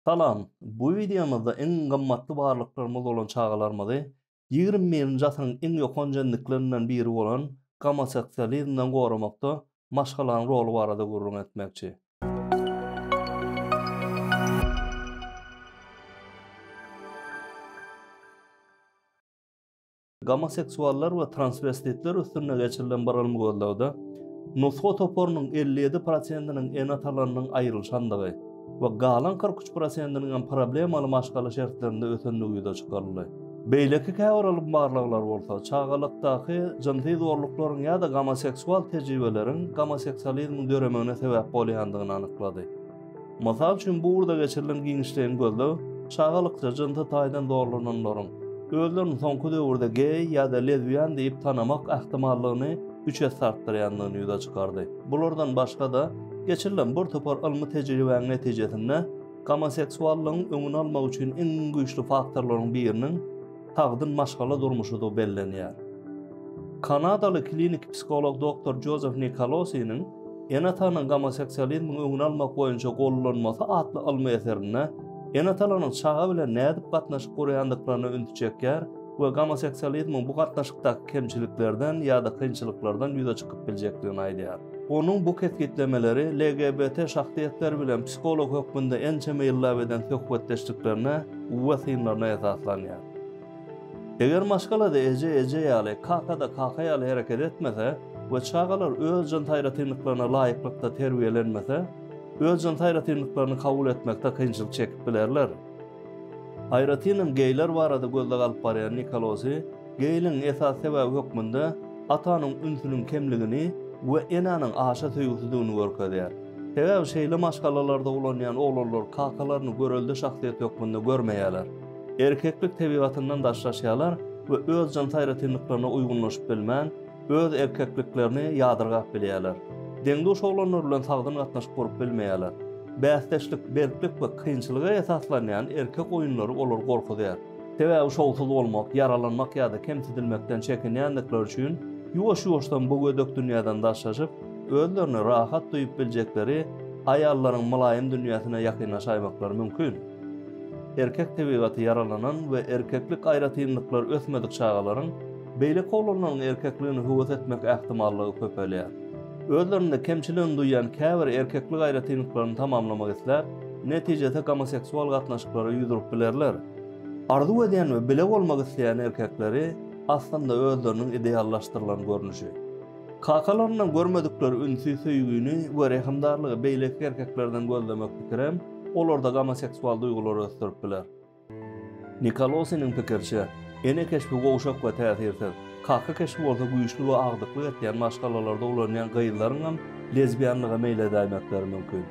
Salam! Bu wideomyzda iň gymmatly barlyklarymyz bolan çagalarymyzy ýigrimi birinji asyryň iň ýokanç endiklerinden biri bolan gomosoksializmden goramakda maşgalanyň roly barada gürrüň etmekçi. Gomoseksuallar we transwestitler üstünde geçirilen bir ylmy gözlegde nusga toparynyň 57 prosentiniň ene-atalarynyň aýrylyşandygy we galan 43 prosentiniň hem problemaly maşgala şertlerinde ösendigi ýüze çykaryldy. Beýleki käbir ylmy barlaglar bolsa, çagalykdaky jynsy zorluklaryň ýa-da gomoseksual tejribeleriň gomoseksualizmiň döremegine sebäp bolýandygyny anyklady. Mysal üçin, bu ugurda geçirilen giňişleýin gözleg çagalykça jynsy taýdan zorlananlaryň özlerini soňky döwürde geý ýa-da lezbian diýip tanamak ähtimallygyny üç esse artdyrýandygyny ýüze çykardy. Bulardan başga-da, geçirilen bir topar ylmy tejribäniň netijesinde, gomoseksuallygyň öňüni almak üçin iň güýçli faktorlaryň biriniň, sagdyn maşgala durmuşydygy bellenýär. Kanadaly klinik psiholog doktor Jozef Nikolosiniň Ene-atanyň gomoseksualizmiň öňüni almak boýunça gollanmasy atly ylmy eserinde ene-atalaryň çaga bilen nädip gatnaşyk guraýandyklaryna ünsi çekýär we gomoseksualizmiň bu gatnaşykdaky kemçiliklerden ýa-da kynçylyklardan ýüze çykyp biljekdigini aýdýar. Onuň bu kesgitlemeleri LGBT şahsyýetler bilen psiholog hökmünde ençeme ýyllap eden söhbetdeşliklerine uwa synlaryna esaslanýar. Eger maşgala-da eje eje ýaly, kaka-da kaka ýaly hereket etmese we çagalar öz jyns aýratynlyklaryna laýyklykda terbiýelenmese, öz jyns aýratynlyklaryny kabul etmekde kynçylyk çekip bilerler. Aýratynam geýler barada gözleg alyp barýan Nikolosy, Geýligiň esasy sebäbi hökmünde atanyň ünsüniň kemligini we enäniň aşa söýgüsizdigini görkezýär. Sebäbi şeýle maşgalalarda ulanýan oglanlar kakalaryny görelde şahsyýet hökmünde görmeýärler. Erkeklik tebigatyndan daşlaşýarlar we öz jyns aýratynlyklaryna uýgunlaşyp bilmän, öz erkekliklerini ýadyrgap bilýärler. Deň-duş oglanlar bilen sagdyn gatnaşyk gurup bilmeýärler. Bäsdeşlik, berklik we kynçylyga esaslanýan erkek oýunlary olary gorkuzýar. Sebäbi şowsuz bolmak, ýaralanmak ýa-da kemsidilmekden çekinýändikleri üçin, ýuwaş-ýuwaşdan bu gödek dünýäden daşlaşyp, özlerini rahat duýup biljekleri aýallaryň mylaýym dünýäsine ýakynlaşaýmaklary mümkin. Erkek tebigaty ýaralanan we erkeklik aýratynlyklary ösmedik çagalaryň beýleki oglanlaryň erkekligine höwes etmek ähtimallygy köpelýär. Özlerinde kemçiligini duýýan käbir erkeklik aýratynlyklaryny tamamlamak isläp, netijede gomoseksual gatnaşyklara ýüz urup bilerler. Arzuw edýän we bile bolmak isleýän erkekleri aslynda özleriniň ideallaşdyrylan görnüşi. Kakalaryndan görmedikleri ünsi, söýgini we rehimdarlygy beýleki erkeklerden gözlemek pikirem olarda gomoseksual duýgulary ösdürip biler. Nikolosiniň pikiriçe, ene keşbi gowşak we täsirsiz, kaka keşbi bolsa güýçli we agdyklyk etýän maşgalalarda ulanýan gyzlaryň hem lezbianlyga meýil edäýmekleri mümkin.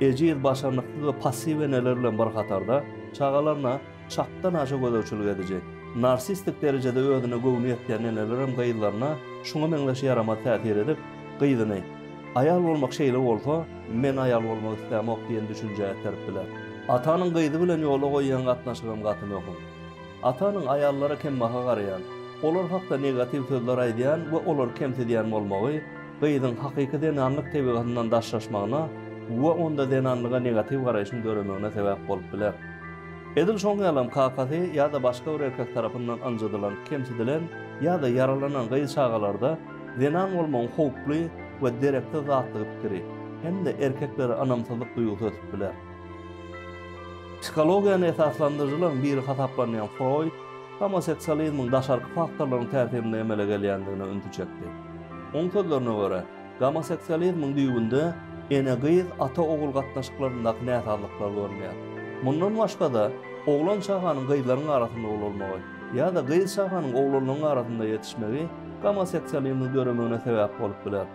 Ejiz, başarnyksyz we passiw eneler bilen bir hatarda, çagalaryna çakdanaşa gözegçilik ediji, narsistik derejede özüne göwni ýetýän eneler hem gyzlaryna şuňa meňzeş ýaramaz täsir edip, gyzyny, Aýal bolmak şeýle bolsa, men aýal bolmak islämok diýen düşünjä iterip biler. Atanyň gyzy bilen ýola goýýan gatnaşygam gaty möhüm. Atanyň aýallara kembaha garaýan, olar hakda negatiw sözler aýdýan we olary kemsidýän bolmagy gyzyň hakyky zenanlyk tebigatyndan daşlaşmagyna we onda zenanlyga negatiw garaýşyň döremegine sebäp bolup biler. Edil şoň ýalam kakasy ýa-da başga bir erkek tarapyndan ynjydylan, kemsidilen ýa-da ýaralanan gyz çagalarda Zenan bolmagyň howply we dereksiz zatdygy pikiri hem-de erkeklere ynamsyzlyk duýgusy ötüp biler. Psihologiýany esaslandyryjylaryň biri hasaplanýan Froýd homoseksualizmiň daşarky faktorlaryň täsirinde emele gelýändigine ünsi çekdi. Oň sözlerine görä, gomoseksualizmiň düýbünde ene-gyz, ata-ogul gatnaşyklaryndaky näsazlyklar görünýär. Mundan başga-da, oglan çaganyň gyzlaryň arasynda ulalmagy, Ýa-da gyz çaganyň oglanlaryň arasynda ýetişmegi gomoseksualizmiň döremegine sebäp bolup biler.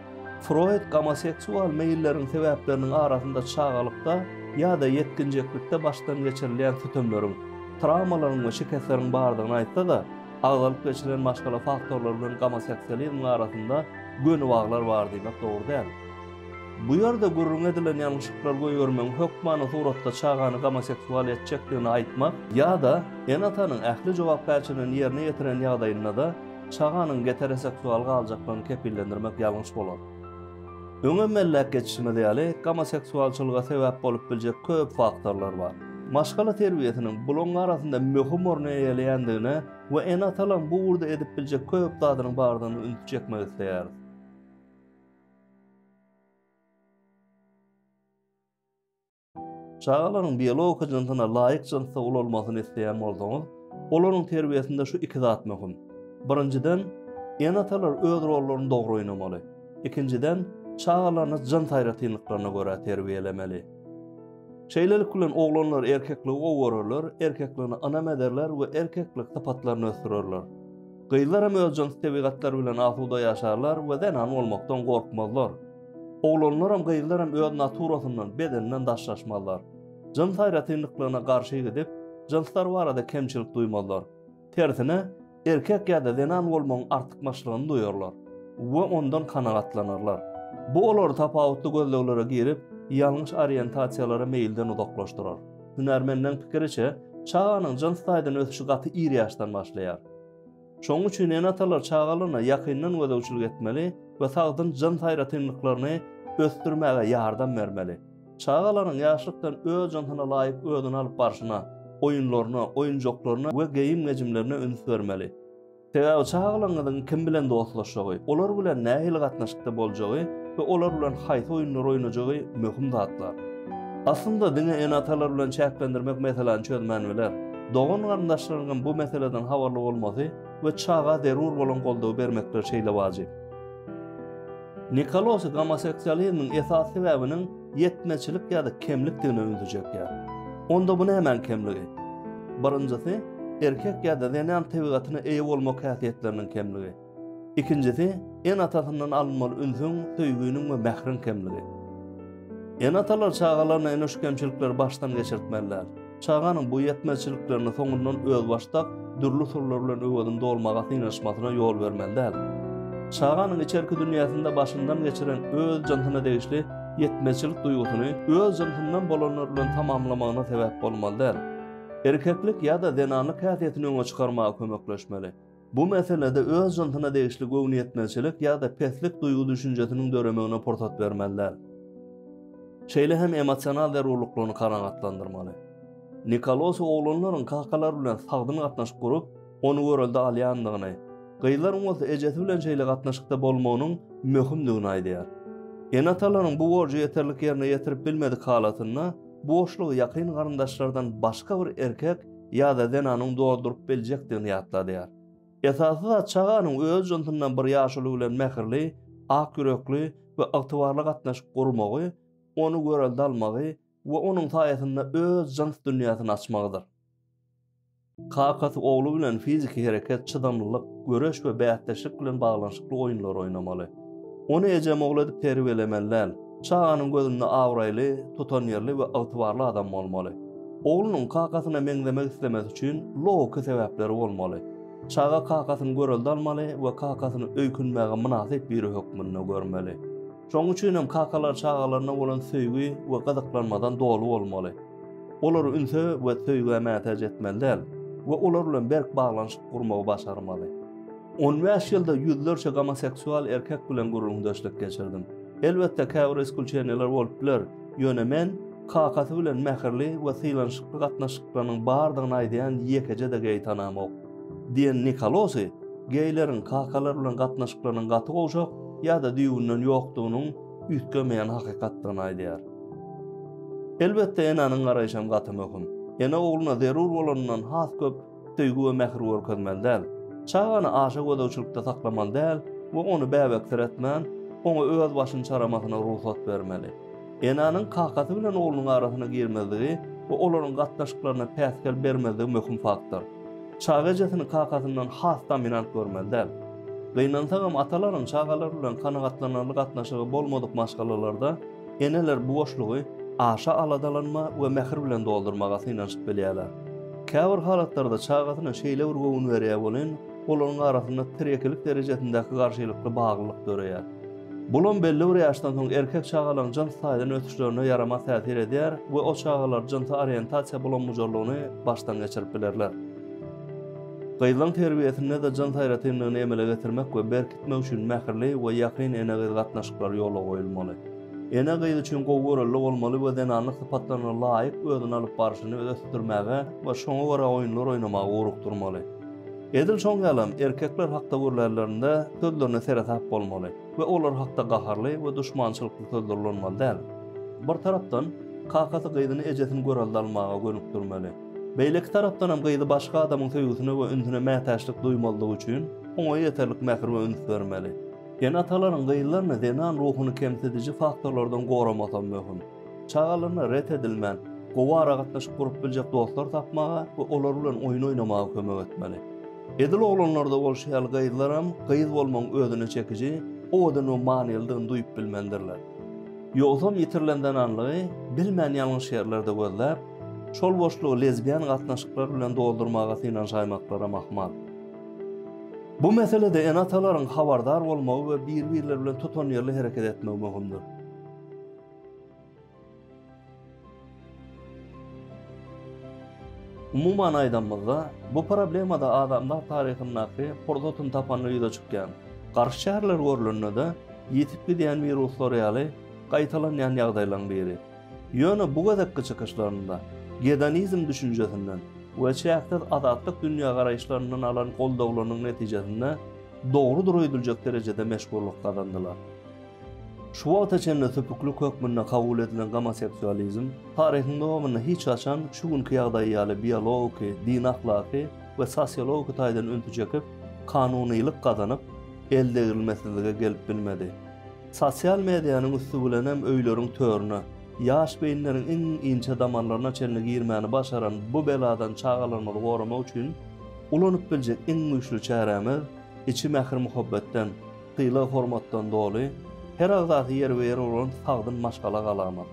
Froýd gomoseksual meýilleriň sebäpleriniň arasynda çagalykda ýa-da ýetginjeklikde başdan geçirilýän sütemleriň, trawmalaryň we şikesleriň bardygyny aýtsa-da, agzalyp geçilen maşgala faktorlary bilen gomoseksualizmiň arasynda göni baglar bar diýmek dogry däl. Bu ýerde gürrüň edilen ýalňyşyklar goýbermegiň hökmany suratda çagany gomoseksual etjekdigini aýtmak ýa-da ene-atanyň ähli jogapkärçiligini ýerine ýetiren ýagdaýynda-da çaganyň geteroseksual galjaklygyny kepillendirmek ýalňyş bolar. Öňem belläp geçişimiz ýaly, gomoseksualçylyga sebäp bolup biljek köp faktorlar bar. Maşgala terbiýesiniň bularyň arasynda möhüm orny eýeleýändigine we ene-atalaryň bu ugurda edip biljek köp zadynyň bardygyna ünsi çekmek isleýäris. Çagalaryň biologiki jynsyna laýyk jynsda ulalmagyny isleýän bolsaňyz, olaryň terbiýesinde şu iki zat möhüm. Birinjiden, ene-atalar öz rollaryny dogry oýnamaly. Ikinjiden, çagalaryny jyns aýratynlyklaryna görä terbiýelemeli. Şeýlelik bilen oglanlar erkekligi gowy görerler, erkekligini ynam ederler we erkeklik sypatlaryny ösdürerler. Gyzlar hem öz jyns tebigatlary bilen asuda ýaşarlar we zenan bolmakdan gorkmazlar. Oglanlar hem, gyzlar hem öz naturasyndan, bedeninden daşlaşmazlar. Jyns aýratynlyklygyna garşy gidip, jynslar barada kemçilik duýmazlar. Tersine, erkek ýa-da zenan bolmagyň artykmaçlygyny duýarlar we ondan kanagatlanarlar. Bu olary tapawutly gözleglere girip, ýalňyş oriýentasiýalara meýilden uzaklaşdyrar. Hünärmenleriň pikiriçe, çaganyň jyns taýdan ösüşi gaty ir ýaşdan başlaýar. Şonuň üçin ene-atalar çagalaryna ýakyndan gözegçilik etmeli we sagdyn jyns aýratynlyklaryny ösdürmäge ýardam bermeli. Çagalaryň ýaşlykdan öz jynsyna laýyk özüni alyp barşyna, oýunlaryna, oýunjaklaryna we geýim-gejimlerine üns bermeli. Sebäbi çagalaryňyzyň kim bilen dostlaşjagy, olar bilen nähili gatnaşykda boljagy we olar bilen haýsy oýunlary oýnajagy möhüm zatlar. Aslynda diňe ene-atalar bilen çäklendirmek meseläni çözmän biler. Dogan-garyndaşlaryňam bu meseleden habarly bolmasy we çaga zerur bolan goldawy bermekleri şeýle wajyp. Nikolosy gomoseksualizmiň esasy sebäbiniň ýetmezçilik ýa-da kemlikdigine ünsi çekýär. Onda bu nämäň kemligi? Birinjisi, erkek ýa-da zenan tebigatyna eýe bolmak häsiýetleriniň kemligi. Ikinjisi, ene-atasyndan alynmaly ünsüň, söýginiň we mähriň kemligi. Ene-atalar çagalaryna ene-şu kemçilikleri başdan geçirtmeliler. Çaganyň bu ýetmezçiliklerini soňundan özbaşdak dürli usullar bilen öwezini dolmaga synanyşmasyna ýol bermeli däl. Çaganyň içerki dünýäsinde başyndan geçiren öz jynsyna degişli ýetmezçilik duýgusyny öz jynsyndan bolanlar bilen tamamlamagyna sebäp bolmaly däl. Erkeklik ýa-da zenanlyk häsiýetini öňe çykarmaga kömekleşmeli. Bu meselede öz jynsyna degişli göwnüýetmezçilik ýa-da peslik duýgy-düşünjesiniň döremegine pursat bermeli däl. Şeýle hem emosional zerurlyklaryny kanagatlandyrmaly. Nikolosi oglanlaryň kakalar bilen sagdyn gatnaşyk gurup, ony görelde alýandygyny, gyzlaryň bolsa ejesi bilen şeýle gatnaşykda bolmagynyň möhümdigini aýdýar. Ene-atalaryň bu borjy ýeterlik ýerine ýetirip bilmedik halatynda boşlugy ýakyn garyndaşlardan başga bir erkek ýa-da zenanyň dolduryp biljekdigini ýatladýar. Esasy zat çaganyň öz jynsyndan bir ýaşuly bilen mähirli, ak ýürekli we ygtybarly gatnaşyk gurmagy, ony görelde almagy we onuň saýasynda öz jyns dünýäsini açmagydyr. Kakasy ogly bilen fiziki hereket, çydamlylyk, göreş we bäsdeşlik bilen baglanyşykly oýunlary oýnamaly. Ony ejemogly edip terbiýelemeli däl. Çaganyň gözünde abraýly, tutanýerli we ygtybarly adam bolmaly. Oglunyň kakasyna meňzemek islemesi üçin logiki sebäpleri bolmaly. Çaga kakasyny görelde almaly we kakasyny öýkünmäge mynasyp biri hökmünde görmeli. Şonuň üçin hem kakalar çagalaryna bolan söýgi we gyzyklanmadan doly bolmaly. Olary ünse we söýgä mätäç etmeli däl we olar bilen berk baglanyşyk gurmagy başarmaly. On bäş ýylda ýüzlerçe gomoseksual erkek bilen gürrüňdeşlik geçirdim. Elbetde käbir iskulçeniýalar bolup biler, ýöne men kakasy bilen mähirli we sylanyşykly gatnaşyklarynyň bardygyny aýdýan ýekeje-de geý tanamok. Diýen Nikolosy geýleriň kakalar bilen gatnaşyklarynyň gaty gowşak ýa-da düýbünden ýokdugynyň üýtgemeýän hakykatdygyny aýdýar. Elbetde enäniň garaýşam gaty möhüm. Ene ogluna zerur bolanyndan has köp söýgi we mähir görkezmeli däl. Çagany aşa gözegçilikde saklamaly däl we ony bäbeksiretmän, oňa öz başyny çaramasyna rugsat bermeli. Enäniň kakasy bilen oglunyň arasyna girmezligi we olaryň gatnaşyklaryna päsgel bermezligi möhüm faktor. Çaga ejesini kakasyndan has dominant görmeli däl. Gynansagam atalaryň çagalar bilen kanagatlanarly gatnaşygy bolmadyk maşgalalarda Eneler bu boşlugy aşa aladalanma we mähir bilen doldurmaga synanyşyp bilýärler. Käbir halatlarda çagasyna şeýle bir göwün berýär welin, olaryň arasynda tirekilik derejesindäki garşylykly baglylyk döreýär. Bulam belli bir ýaşdan soň erkek çagalaryň jyns taýdan ösüşlerine ýaramaz täsir edýär we o çagalar jynsy oriýentasiýa bulam-bujarlygyny başdan geçirip bilerler. Gyzlaň terbiýesinde-de jyns aýratynlygyny emele getirmek we berkitmek üçin mähirli we ýakyn ene-gyz gatnaşyklary ýola goýulmaly. Ene gyz üçin gowy görelde bolmaly we zenanlyk sypatlaryna laýyk özüni alyp barşyny ösdürmäge we şoňa görä oýunlar oýnamaga ugrukdyrmaly. Edil şoň ýalam, erkekler hakda gürlärlerinde sözlerine seresap bolmaly we olar hakda gaharly we duşmançylykly sözler ulanmaly däl. Bir tarapdan, kakasy gyzyny ejesini görelde almaga gönükdirmeli. Beýleki tarapdanam gyzy başga adamyň söýgüsine we ünsüne mätäçlik duýmazlygy üçin, oňa ýeterlik mähir we üns bermeli. Ene-atalaryň gyzlaryny zenan ruhuny kemsidiji faktorlardan goramasam möhüm. Çagalaryna ret edilmän, gowy aragatnaşyk gurup biljek dostlar tapmaga we olar bilen oýun oýnamaga kömek etmeli. Edil oglanlarda bolşy ýaly gyzlaram gyz bolmagyň özüne çekiji, owadan we manylydygyny duýup bilmelidirler. Ýogsam ýitirilen zenanlygy bilmän ýalňyş ýerlerde gözläp, Şol boşlugy lezbian gatnaşyklar bilen doldurmaga synanşaýmaklara mahmal. Bu meselede ene-atalaryň habardar bolmagy we bir-birleri bilen tutanýerli hereket etmegi möhümdir. Umuman aýdanymyzda, bu problema-da adamzat taryhyndaky pursatyny tapanda ýüze çykýan, garşy çäreler görlende-de ýitip gidýän wiruslar ýaly gaýtalanýan ýagdaýlaryň biri. Ýöne bu gezekki çykyşlarynda gedonizm düşünjesinden we çäksiz azatlyk dünýägaraýyşlaryndan alan goldawlarynyň netijesinde dogrudyr öýdüljek derejede meşhurlyk gazandylar. Şu wagta çenli süpüklik hökmünde kabul edilen gomoseksualizm taryhyň dowamynda hiç haçan şu günki ýagdaýy ýaly biologiki, dini-ahlaky we sosiologiki taýdan ünsi çekip, kanunylyk gazanyp, eldegrilmesizlige gelip bilmedi. Sosial medianyň üsti bilenem öýleriň törüne, ýaş beýinleriň iň inçe damarlaryna çenli girmäni başaran bu beladan çagalarymyzy goramak üçin ulanyp biljek iň güýçli çärämiz, içi mähir-muhabbetden, sylag-hormatdan doly, her agzasy ýerbe-ýer bolan sagdyn maşgala galamyz.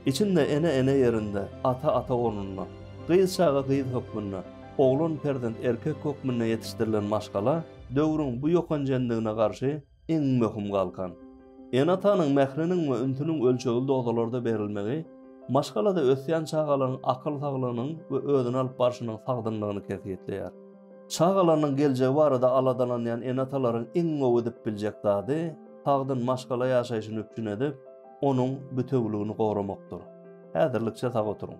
Içinde ene ene ýerinde, ata ata ornunda, gyz çaga gyz hökmünde, oglan perzent erkek hökmünde ýetişdirilen maşgala döwrüň bu ýokanjendigine garşy, iň möhüm galkan. Ene-atanyň mähriniň we ünsüniň ölçegli dozalarda berilmegi maşgalada ösýän çagalaryň akyl saglygynyň we özüni alyp barşynyň sagdynlygyny kesgitleýär. Çagalarynyň geljegi barada aladalanýan ene-atalaryň iň gowy edip biljek zady, sagdyn maşgala ýaşaýşyny üpjün edip, onuň bütewüligini goramakdyr. Häzirlikçe sag oturyň!